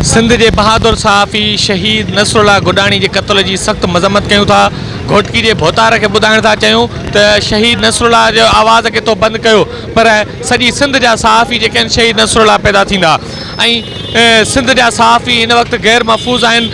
سنڌ جي بهادر صحافي شهيد نصرالله گڏاڻي جي قتل جي سخت مذمت ڪيون ٿا، گهوٽڪي جي ڀوتار کي ٻڌائڻ ٿا چاهيون ته شهيد نصرالله جي آواز کي تو بند ڪيو پر سڄي سنڌ جا صحافي جيڪي آهن شهيد نصرالله پيدا ٿيندا ۽ سنڌ جا صحافي هن وقت غير محفوظ آهن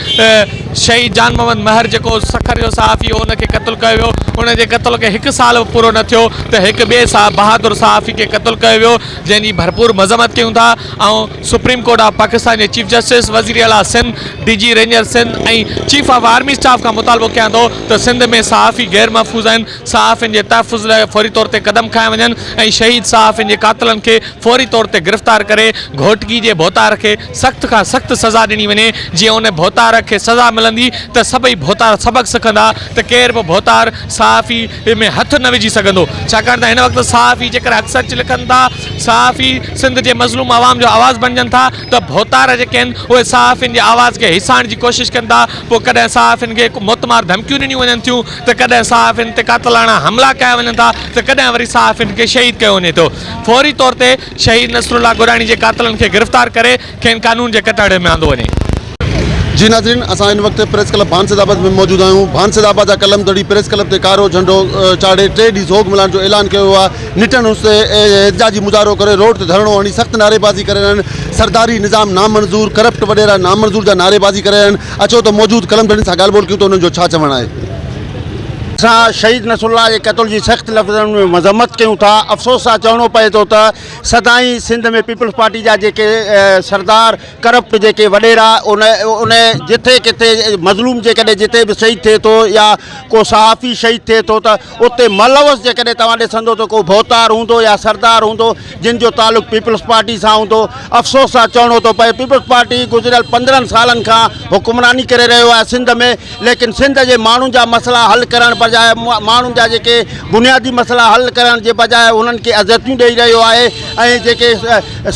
شهيد جان محمد مهر جيڪو سکر جو صحافي هو ان کي قتل ڪيو ويو ان جي قتل کي هڪ سال به پورو نه ٿيو ته هڪ ٻئي بهادر صحافي کي قتل ڪيو ويو جنهن جي ڀرپور مذمت ڪيون ٿا ۽ سپريم ڪورٽ آف پاڪستان جي چيف جسٽس، وزير اعليٰ Sindh, D G ranger Sindh ۽ chief of army staff کان مطالبو ڪيان ٿو ته سنڌ ۾ صحافي غير محفوظ آهن، صحافين جي تحفظ لاء فوري طور تي قدم کنيا وڃن ۽ شهيد صحافين جي قاتلن کي فوري طور تي گرفتار ڪري گهوٽڪي جي ڀوتار کي سخت کان سخت سزا ڏني وڃي جيئن ان ڀوتار کي سزا ملندي ته سڀئي ڀوتار سبق سکندا ته ڪير به ڀوتار صحافي ۾ هٿ نه وجهي سگهندو ڇاڪاڻ ته هن وقت صحافي جيڪر حق سچ لکن ٿا صحافي سنڌ جي مظلوم عوام جو آواز بڻجن ٿا ته ڀوتار جيڪي آهن اهي صحافين جي آواز کي هيسائڻ جي ڪوشش ڪن ٿا پوء ڪڏهن صحافين کي موتمار ڌمڪيون ڏنيون وڃن ٿيون ته ڪڏهن صحافين تي قاتلاڻا حملا ڪيا وڃن ٿا ته ڪڏهن وري صحافين کي شهيد ڪيو وڃي ٿو فوري طور تي شهيد نصرالله گوراڻي جي قاتلن کي گرفتار ڪري کين قانون جي ڪٽهڙي ۾ آندو وڃي. جي ناظرين اسان هن وقت پريس ڪلب ڀانسد آباد ۾ موجود آهيون ڀانسد آباد جا قلم دڙي پريس ڪلب تي ڪارو جهنڊو چاڙهي ٽي ڏينهن سوڳ ملهائڻ جو اعلان ڪيو ويو آهي نٽن اس تي احتجاجي مظاهرو ڪري روڊ تي ڌرڻو هڻي سخت نعريبازي ڪري رهيا آهن سرداري نظام نامنظور ڪرپٽ وڏيرا نامنظور جا نعريبازي ڪري رهيا آهن اچو ته موجود قلم دڙين سان ڳالهه ٻولهه ڪيون ته انهن جو ڇا چوڻ آهي اسان شهيد نصرالله جي قتل جي سخت لفظن ۾ مذمت ڪيون ٿا افسوس سان چوڻو پئي ٿو ته سدائين سنڌ ۾ پيپلز پارٽي جا جيڪي سردار ڪرپٽ جيڪي وڏيرا ان ان جٿي ڪٿي مظلوم جيڪڏهن جتي به شهيد ٿئي ٿو يا ڪو صحافي شهيد ٿئي ٿو ته اتي ملوث جيڪڏهن توهان ڏسندو ته ڪو ڀوتار هوندو يا سردار هوندو جن جو تعلق پيپلز پارٽي سان هوندو افسوس سان چوڻو ٿو پئي پيپلز پارٽي گذريل پندرهن سالن کان حڪمراني ڪري رهيو آهي سنڌ ۾ ليڪن سنڌ جي ماڻهن جا مسئلا حل ڪرڻ بجاء ماڻهن جا جيڪي بنيادي مسئلا حل ڪرڻ جي بجاء انهن کي اذيتون ڏئي رهيو آهي ۽ جيڪي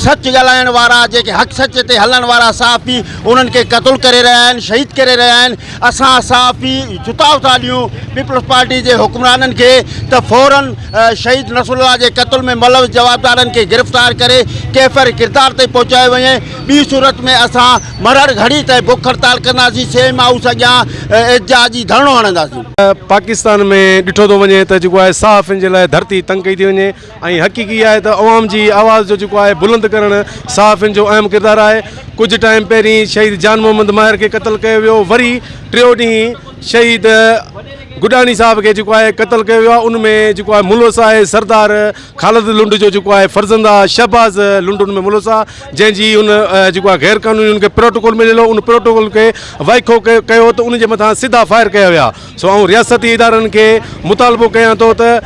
سچ ڳالهائڻ وارا جيڪي حق سچ تي هلڻ وارا صحافي انهن کي قتل ڪري رهيا آهن شهيد ڪري رهيا آهن اسان صحافي جتاء ٿا ڏيون پيپلز پارٽي جي حڪمرانن کي ته فورن شهيد نصر الله جي قتل ۾ ملوث جوابدارن کي گرفتار ڪري ڪيفر ڪردار تائين پهچايو وڃي ٻي صورت ۾ اسان مرهڙ گهڙي تائين بک هڙتال ڪنداسين، سي ايم هائوس اڳيان احتجاج جي ڌرڻو هڻنداسين. پاڪستان ۾ ڏٺو ٿو وڃي ته جيڪو آهي صحافين جي لاء ڌرتي تنگ ڪئي ٿي وڃي ۽ حقيقي آهي ته عوام جي آواز جو جيڪو آهي بلند ڪرڻ صحافين جو اهم ڪردار آهي ڪجهه ٽائيم پهرين شهيد جان محمد ماهر کي قتل ڪيو ويو وري ٽيو ڏينهن شهيد گڏاڻي صاحب کي جيڪو آهي قتل ڪيو ويو آهي ان ۾ جيڪو آهي ملوث آهي سردار خالد لنڊ جو جيڪو آهي فرزند آ شهباز لنڊ ان ۾ ملوث آ جنهن جي ان جيڪو آهي غير قانوني ان کي پروٽوڪول مليل هو ان پروٽوڪول کي وائکو ڪيو ته ان جي مٿان سڌا فائر ڪيا ويا سو آئون رياستي ادارن کي مطالبو ڪيان ٿو ته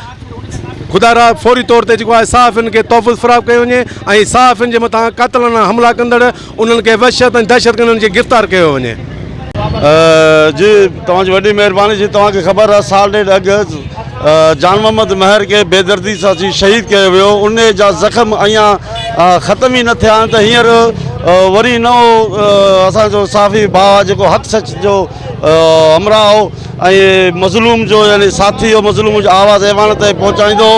خدا را فوري طور تي جيڪو آهي صحافين کي تحفظ فراهم ڪيو وڃي ۽ صحافين جي مٿان قاتلانه حملا ڪندڙ انهن کي وحشت ۽ دهشتگردن کي گرفتار ڪيو وڃي. جي توهان جي وڏي مهرباني جي توهان کي خبر آهي سال ڏيڍ اڳ جان محمد مهر کي بيدردي سان جي شهيد ڪيو ويو انهي جا زخم اڃان ختم ئي نه ٿيا آهن ته هينئر وري نئون اسان جو صحافي ڀاء جيڪو حق سچ جو همراهه هو ۽ مظلوم جو يعني ساٿي جو مظلوم جو آواز ايوان تائين پهچائيندو،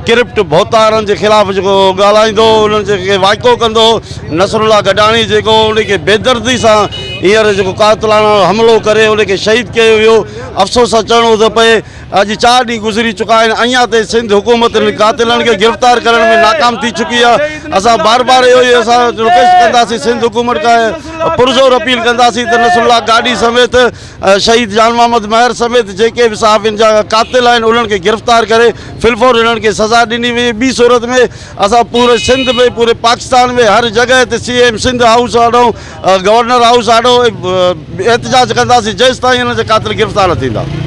ڪرپٽ ڀوتارن جي خلاف جيڪو ڳالهائيندو، انهن جي کي وائکو ڪندو، نصرالله گڏاڻي جيڪو انهي کي بيدردي سان هينئر جيڪو قاتلاڻو حملو ڪري انهي کي شهيد ڪيو ويو، افسوس سان چوڻو ٿو پئي اڄ چار ڏينهن گذري چڪا آهن اڃان تائين سنڌ حڪومت انهن قاتلن کي گرفتار ڪرڻ ۾ ناڪام ٿي چڪي آهي، اسان بار بار اهو ئي اسان رڪويسٽ ڪنداسين سنڌ حڪومت کان پرزور اپيل ڪنداسين ته نصرالله گاڏهي سميت. شهيد جان محمد مهر سميت جيڪي به صحافين جا قاتل آهن انهن کي گرفتار ڪري فلفور انهن کي سزا ڏني وڃي ٻي صورت ۾ اسان پوري سنڌ ۾ پوري پاڪستان ۾ هر جڳهه تي سي ايم سنڌ هائوس آڏو گورنر هائوس آڏو احتجاج ڪنداسين جيستائين انهن جا قاتل گرفتار نه ٿيندا.